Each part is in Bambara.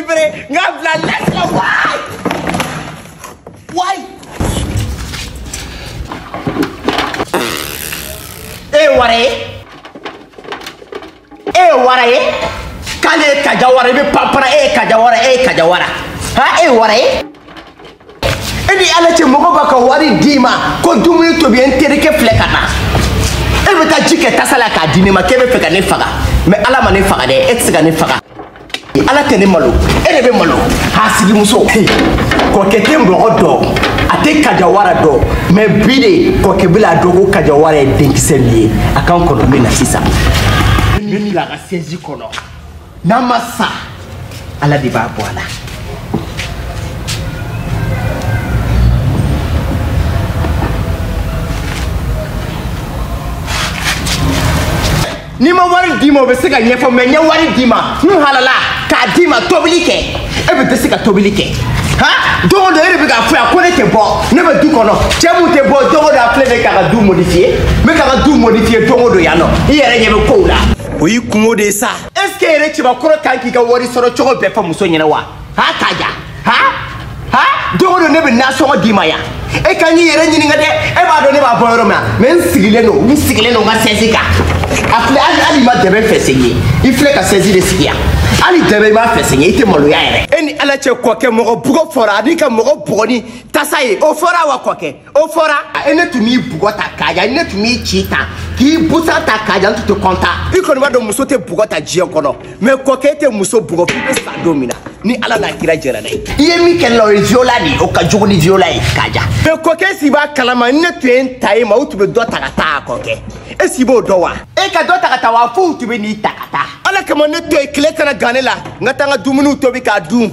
libre nga bila laisse la waay waay e wara ye e wara ye k'ale ye kaja wara i bɛ panpara e ye kaja wara e ye kaja wara ha e wara ye e ni ala cɛ mɔgɔ b'a ka wari d'i ma ko dumuni tobi ye n terikɛ filɛ ka na e bɛ taa ji kɛ tasa la k'a di ne ma k'e b'a fɛ ka ne faga mɛ ala ma ne faga dɛ e tɛ se ka ne faga ala tɛ ne malo e de bɛ malo hasidimuso kɔkɛ tɛ mɔgɔ dɔn a tɛ kajawara dɔn mɛ bi de kɔkɛ bɛ la dɔn ko kajawara ye denkisɛ de ye a ka n kɔnɔ n bɛ na sisan ne bila ka sɛzi kɔnɔ n'a ma sa ala de b'a bɔ a la ni n ma wari d'i ma o bɛ se ka ɲɛfɔ mɛ n ye wari d'i ma n halala k'a d'i ma tobili kɛ e bɛ tɛ se ka tobili kɛ han don o don e de bɛ k'a fɔ yan ko ne tɛ bɔ ne bɛ du kɔnɔ cɛ mun tɛ bɔ don o don a filɛ ne k'a ka du modifiye n bɛ k'a ka du modifiye don o don yan nɔ i yɛrɛ ɲɛ bɛ kow la o y'i kunko de ye sa est ce que yɛrɛ cɛbakɔrɔ kan k'i ka wari sɔrɔ cogo bɛɛ fɔ muso ɲɛna wa ha kaja ha ha don o don ne bɛ nasɔngɔ d'i ma yan e ka n'i yɛrɛ ɲininka dɛ e b'a dɔn ne b'a bɔ yɔrɔ min na mɛ n sigilen don n sigilen don n ka sɛzi kan a filɛ hali hali i ma dɛbɛn fɛnsɛ n ye i filɛ ka sɛzi de sigi yan hali dɛbɛn i m'a fɛnsɛ n ye i tɛ maloya yɛrɛ e ni ala cɛ kɔkɛ mɔgɔ bugɔ fɔra ani ka mɔgɔ bugɔ ni tasa ye o fɔra wa kɔkɛ o fɔra e ne tun b'i bugɔ tan kaja ne tun b'i ci tan k'i busan tan kaja n tun tɛ kɔntan i kɔni b'a dɔn muso tɛ bugɔ tan diɲɛ kɔnɔ mɛ kɔkɛ tɛ muso bugɔ f'i bɛ sa don min na ni ala n'a kira jɛra n'a ye i ye min kɛ n na o ye viola de ye o ka jugu ni viola ye kaja mɛ kɔkɛ est ce i b'a kalama ne tun ye n ta ye ma u tun bɛ dɔ ta ka taa a kɔkɛ est ce i b'o dɔn wa e ka dɔ ta ka taa wa fo u tun bɛ n'i ta ka taa ala kama ne to yen tile kana gan ne la n ka taa n ka dumuni tobi k'a dun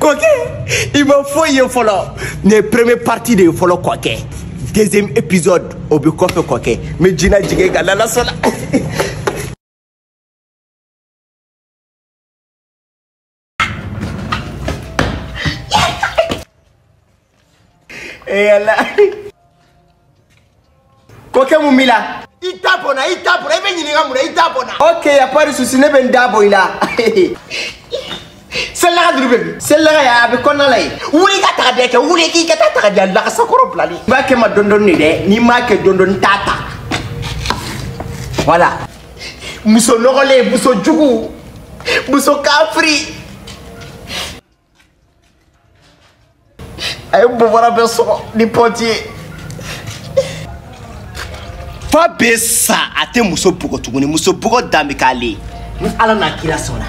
kɔkɛ i ma foyi ye fɔlɔ nin ye première partie de ye fɔlɔ kɔkɛ deuxième épisode o bɛ kɔfɛ kɔkɛ n bɛ jina jigin ka lala sɔnna e ala kɔkɛ mun b'i la i da bɔ n na i da bɔ n na i bɛ n ɲininka mun na i da bɔ n na ok y a pas de souci ne bɛ n da bɔ i la selidaga duru bɛ min selidaga y'a a bɛ kɔnɔna la yen wuli ka taga dɛ kɛ wuli k'i ka taa taga di a lagasakɔrɔ bilali i b'a kɛ ma dɔɔni dɔɔni de dɛ n'i m'a kɛ dɔɔni dɔɔni n t'a ta voilà muso nɔgɔlen muso jugu muso kafiri a ye bobara bɛɛ sɔgɔ ni pɔnti ye f'a bɛ sa a tɛ muso bugɔ tuguni muso bugɔ dan bɛ k'ale ye ni ala n'a kira sɔnna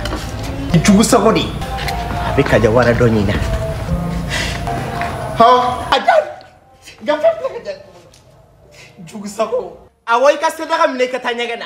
jugu sago de a bɛ kaja wara dɔ ɲin na hɔn a ja gafe filɛ kaja jugu sago awɔ i ka selidaga minɛ i ka taa ɲɛgɛn na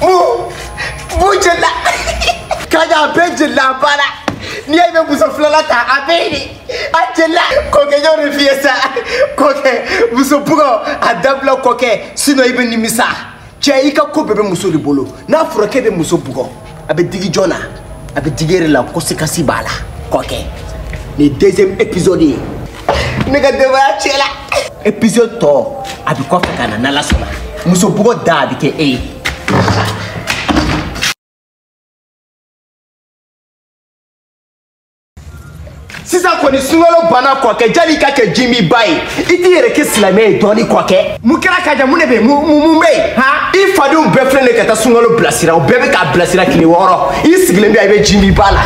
b'u jeli la kaja a bɛ jeli la bala n'i y'a ye i bɛ muso filanan ta a bɛ yen de a jeli la kɔkɛ y'o de f'i ye sa kɔkɛ muso bugɔ a dabila kɔkɛ sinɔn i bɛ nimisa cɛ i ka ko bɛɛ bɛ muso de bolo n'a fɔra k'e bɛ muso bugɔ a bɛ digi jɔn na a bɛ digi i yɛrɛ la conséquence b'a la kɔkɛ nin deuxième épisode ye ne ka denbaya tiɲɛ la épisode tɔ a bɛ kɔfɛ ka na n'ala sɔnna muso bugɔ dan bɛ kɛ e ye sisan kɔni sunkalo banna kɔkɛ yani i ka kɛ jiminba ye i t'i yɛrɛ kɛ silamɛ ye dɔɔni kɔkɛ mun kɛra kaja mun de bɛ mun bɛ yen han i fadenw bɛɛ filɛ de ka taa sunkalo bilasira o bɛɛ bɛ k'a bilasira tile wɔɔrɔ i sigilen bɛ yan i bɛ jiminba la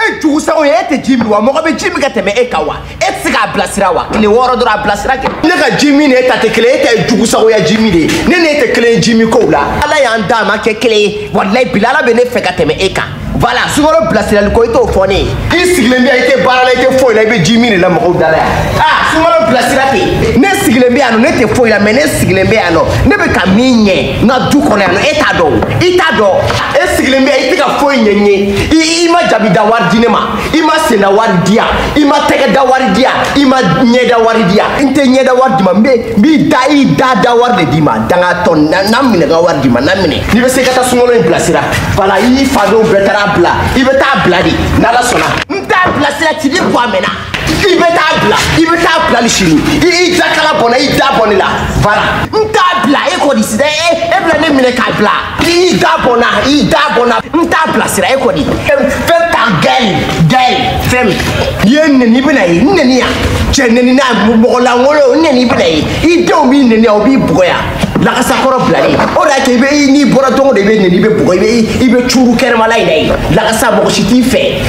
e jugusago ye e tɛ ji min wa mɔgɔ bɛ ji min ka tɛmɛ e kan wa e tɛ se k'a bilasira wa tile wɔɔrɔ dɔrɔn a bilasira kɛ ne ka ji min ni e ta tɛ kelen e ta ye jugusagoya ji min de ye ne ni e tɛ kelen ye ji min kow la ala y'an d'a m'an kɛ kelen ye walayi bila ala bɛ ne fɛ ka tɛmɛ e kan voilà sunkalo bilasirali ko i t'o fɔ ne ye i sigilen bɛ yan i tɛ baara la i tɛ foyi la i bɛ ji min de la mɔgɔw da la yan aa sunkalo bilasira ten ne sigilen bɛ yan nɔ ne tɛ foyi la mais ne sigilen bɛ yan nɔ ne bɛ ka min ɲɛ n ka du kɔnɔ yan nɔ e t'a dɔn o i t'a dɔn e sigilen bɛ yan i tɛ ka foyi ɲɛɲini i i ma jabi da wari di ne ma i ma sen da wari di yan i ma tɛgɛ da wari di yan i ma ɲɛ da wari di yan n tɛ ɲɛ da wari d'i ma n bɛ n b'i da i da da wari de d'i ma dangatɔ na n'a minɛ ka wari d'i ma n'a minɛ. n'i bɛ se ka taa sunkalo in bilasira voilà i fadenw bɛɛ taara bila i bɛ taa bila de n'ala sɔnna n t'a bilasira ci ni bɔ a mɛnna i bɛ taa bila i bɛ taa bila ni sini i y'i da kala bɔ n na i da bɔ ne la voilà n t'a bila e kɔni sisan e e bɛna ne minɛ k'a bila i y'i da bɔ n na i y'i da bɔ n na n t'a bilasira e kɔni fɛn ta gɛlɛn gɛlɛn fɛn min n'i ye n nɛni i bɛn'a ye n nɛni yan cɛ nɛni na mɔgɔ lankolon n nɛni i bɛn'a ye i denw b'i nɛni yan u b'i bugɔ yan lakasakɔrɔ bilalen o de y'a to i bɛ n'i bɔra don o don i bɛ neni i bɛ bugɔ i bɛ i bɛ cuuru kɛnɛmala in na yen lakasa mɔgɔ si t'i fɛ.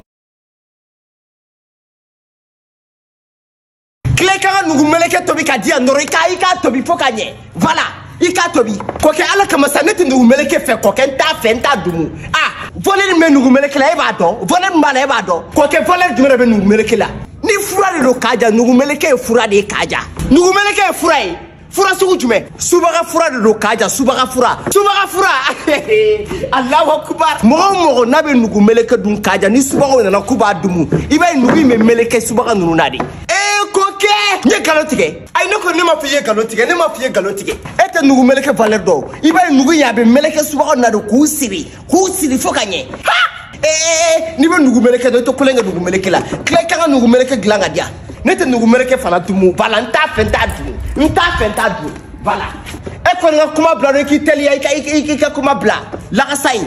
tila ka n ka nugu meleke tobi k'a di yan dɔrɔn i ka i k'a tobi fo ka ɲɛ voilà i k'a tobi kɔkɛ ala kama sa ne tɛ nugu meleke fɛ kɔkɛ n t'a fɛ n t'a dumu ah valeur min bɛ nugu meleke la e b'a dɔn valeur min b'a la e b'a dɔn kɔkɛ valeur jumɛn de bɛ nugu meleke la nin fura de don kaja nugu meleke ye fura de ye kaja nugu meleke ye fura ye. fura sugu jumɛn subaga fura de don kaja subaga fura subaga fura alahu akubar mɔgɔ o mɔgɔ n'a bɛ nugu meleke dun kaja ni subagaw nana k'u b'a dumu i b'a ye nugu in bɛ meleke subaga ninnu na de e ko kɛ n ye nkalon tigɛ ayi ne ko ne m'a fɔ i ye nkalon tigɛ ne m'a fɔ i ye nkalon tigɛ e tɛ nugu meleke valeur dɔn i b'a ye nugu in a bɛ meleke subaga na de k'u siri k'u siri fo ka ɲɛ ee n'i bɛ nugu meleke dɔn i tɛ tulon kɛ nugu meleke la tila i ka kan ka nugu meleke dilan k'a diya ne tɛ nugu meleke fana dumu voilà n t'a fɛ n t'a dun n t'a fɛ n t'a dun voilà e kɔni ka kuma bila dɔrɔn i k'i teliya i ka i ka kuma bila lakasa ye